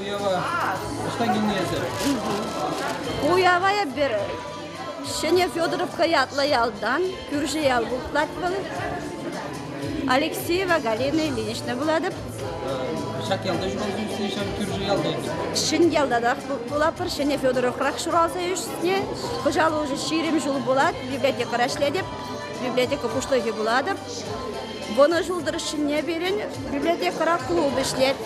Уява ӑҫта килнӗ эсӗр? Уява эпир Ҫӗнӗ Федоровка ятлӑ ялтан кӳрши ял выртлать вӑл. Алексеева Галина Ильинична вулатӑп. Ҫак ялта ҫуралсам сен ҫав кӳрши ялта эпир. Ҫӗньялта та пулатпӑр. Ҫӗнӗ Федоровкрах ҫуралса ӳснӗ. Кӑҫал уже ҫирӗм ҫул пулать. Библиотекӑра ӗҫлетӗп. Библиотека пуҫлӑхӗ пулатӑп. Вунӑ ҫул тӑршшӗне пирӗн библиотекӑра клуб ӗҫлет.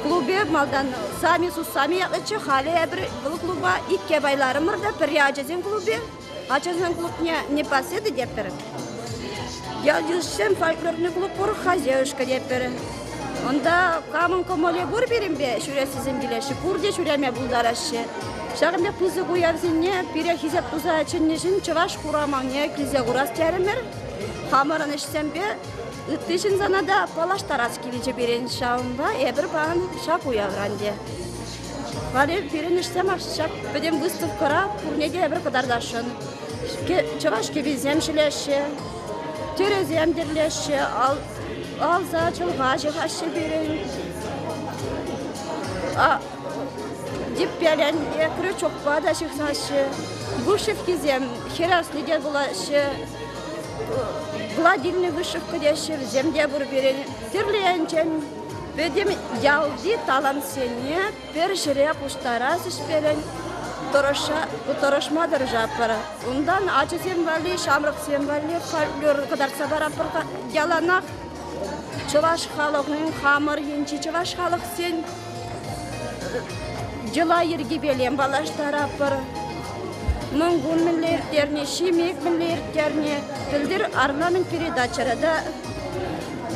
Клубе малтан Сами сус Сами ятлӑччӗ, халӗ эпир вӑл клуба икке пайларӑмӑр та пӗрре ачасен клубӗ, ачасен клубне непоседы тетпӗр. Ял йышшин фольклорный клуб пур, хозяюшка тетпӗр. Унта камӑн кӑмӑлӗ пур пирӗнпе ҫӳрессисем килеҫҫӗ, пурте ҫӳреме пултараҫҫӗ. Ҫакӑн пек пысӑк уявсене пире хисеп туса чӗннӗ ҫын чӑваш хураманне килсе курас терӗмӗр. Хамӑрӑн ӗҫсемпе ытти ҫынсана та паллаштарас килчӗ пирӗн. Ҫавӑнпа эпир паян ҫак уявран те. Халӗ пирӗн ӗҫсем ҫак пӗтӗм выставкӑра пурне те эпир кӑтартасшӑн. Чӑваш кӗписем ҫӗлеҫҫӗ, тӗрӗсем тӗрлеҫҫӗ, Алса чӑлха ҫыхаҫҫӗ пирӗн. Типпеленне крючокпа та ҫыхаҫҫӗ. Вышивкисем хӗресни те пулаҫҫӗ. Гладильный вышивка теҫҫӗ вӗсем те пур пирӗн. Тӗрлӗ енчен пӗтӗм ялти талантсене Пӗр ҫӗре пуҫтарас ӗҫ пирӗн тӑрӑшма тӑрӑшатпӑр. Унтан ачасем валли, ҫамрӑксем валли фольклор кӑтартса паратпӑр. Яланах чӑваш халӑхӗн хамӑр енчи чӑваш халӑхсен йӑла-йӗркипеле паллаштаратпӑр. Мӑнкун мӗнле ирттерни, ҫимек мӗнле ирттерни, пӗлтӗр Арламент передачӑра та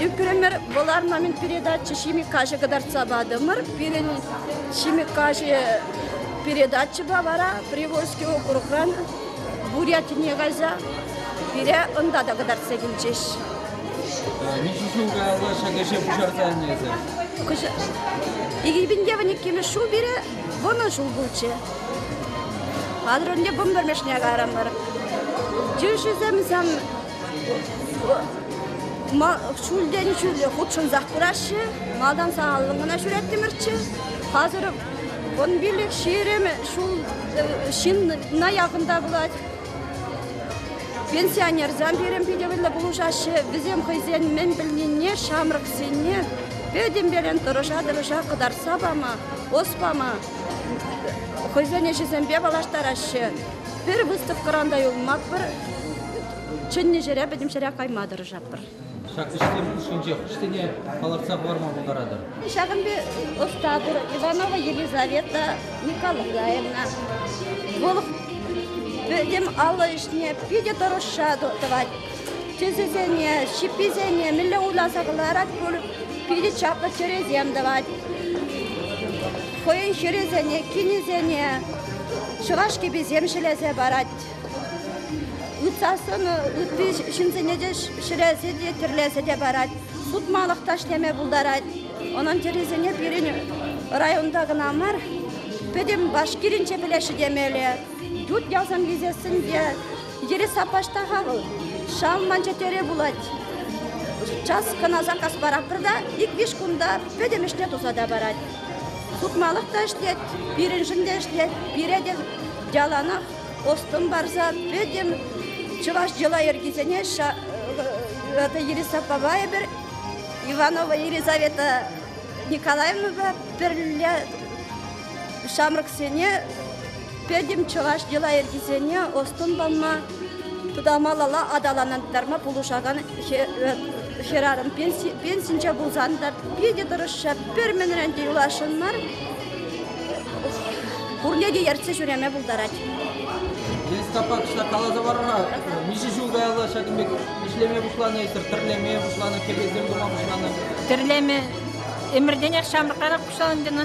Ӳкрӗмӗр, вӑл орнамент передачи ҫими каҫӑ кӑтартса патӑмӑр. Пирӗн ҫими каҫӑ передачӑпа вара Привольский округран Бурятине кайса пире унта та кӑтартса килчӗҫ. Ничешин каялла ҫак ӗҫе пуҫарса аннесӗр? Икӗ пинте вӗниккемӗш ҫул пире вунӑ ҫул пулчӗ. Хатӗр ӗнтӗ вун пӗрмӗшне кайрӑмӑр. Тӳшӗсем сам ҫӳлтен ҫӳле хутшӑнсах пыраҫҫӗ. Малтан сахаллӑн кӑна ҫӳреттӗмӗрччӗ. Хасӑр вун пиллӗк ҫирӗм ҫул ҫынна якӑнта пулать. Пенсионерсем пирӗн питӗ вӗлле пулӑшаҫҫӗ. Вӗсем хӑйсен мӗн пӗлнине, ҫамрӑксене пӗтӗмперен тӑрӑша-тӑрӑша кӑтартса пама, ӑс пама хӑйсен ӗҫӗсемпе паллаштараҫҫӗ. Пӗр выставкӑран та юлмастпӑр. Чӗннӗ ҫӗре пӗтӗм ҫӗре кайма тӑрӑшатпӑр. Ҫак ӗҫсем хушшинче хӑшсене палӑртса хӑварма пултаратӑр? Ҫакӑн пек ӑста пур, Иванова Елизавета Николаевна. Вӑл пӗтӗм алӑ ӗҫне питӗ тӑрӑшса тӑвать. Тӗсӗсене, ҫипписене мӗнле уласа кӑларать пуль, питӗ чаплӑ чӗресем тӑвать. Хӑйӗн чӗрисене, кинӗсене Чӑраш кӗписем ҫӗлесе парать. Ытса сӑнӑ ытти ҫынсене те ҫӗлесе те тӗрлесе те парать. Сутмалӑх ташлеме пултарать. Унӑн чӗрисене пирӗн районта кӑна мар, пӗтӗм Башкиринче пӗлеҫҫӗ темелле. Ют ялсем килсессӗн те йӗрес саппашта-ха вӑл. Шал манча тӗре пулать. Час кӑна заказ паратпӑр та ик-виҫ кунта пӗтӗм ӗҫне туса та парать. Сутмалӑх та ӗҫлет, пирӗншӗн те ӗҫлет. Пире те яланах ӑс-тӑн парса пӗтӗм чӑваш йӑла-йӗркисене это Ириса аппапа эпир, Иванова Елизавета Николаевнапа пӗрле ҫамрӑксене Пӗтӗм чӑваш йӑла-йӗркисене ӑс-тӑн пама, малалла аталантарма пулӑшакан хӗрарӑм пенсинче пулсан та питӗ тӑрӑшчӗ. Пӗр мӗнрен те юласшӑн мар. Пурне те ертсе ҫӳреме пултарать. Гестапо кӑҫала каласа парӑр-ха, миҫе ҫул каялла ҫакӑн пек ӗҫлеме пуҫланӑ эсӗр, тӗрлеме пуҫланӑ, кӗпесем тума пуҫланӑ? Тӗрлеме ӗмӗртенех ҫамрӑкрах пуҫланӑ тенӗ.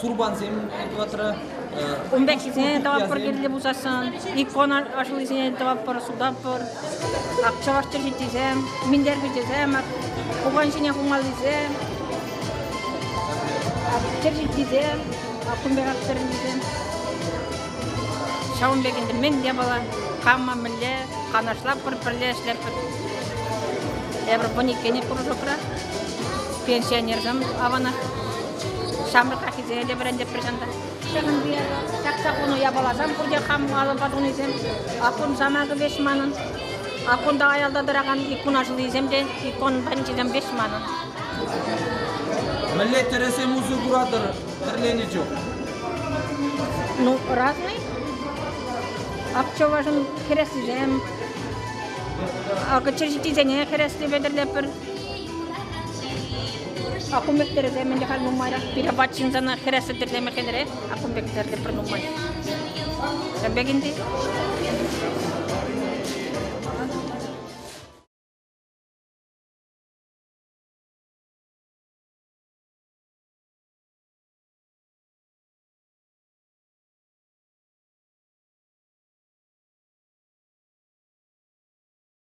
сурпансем тӑватрӑр. Ун пеккисене тӑватпӑр кирлӗ пулсассӑн, икона ашлисене тӑватпӑр, сутатпӑр. Акчаваш чӗрҫитисем, минтерпичӗсем, пукан ҫине хумаллисем, чӗрҫитисем, аккун пек актэрнисем. Ҫавӑн пек ӗнтӗ мӗн япала, кама мӗнле канашлатпӑр, пӗрле ӗҫлетпӗр. Эпир вун иккене пурӑшӑпӑр, пенсионерсем аванах. Ҫамрӑкраххисене те вӗрентӗп пӗрҫантан. Ҫакӑн чакса хунӑ япаласем пурте хам алӑпа тунисем. Аккун самакӗ веҫ манӑн. Аккунта аялта тӑракан иккун аҫлисем те иккун панчисем веҫ манӑн. Мӗнле тӗрӗсем усӑ куратӑр тӗрленӗ чух? Ну, разный. Апчӑвашӑн хӗреслисем, акӑ чӗрҫитисене хӗресли петӗрлетпӗр. Акум пектері те мӗн халь нумайрах. Пире ват ҫынсана хӗрессе тӗрлеме хӗнре. Акум пектері те пӗр нумай. Ҫав пек инди.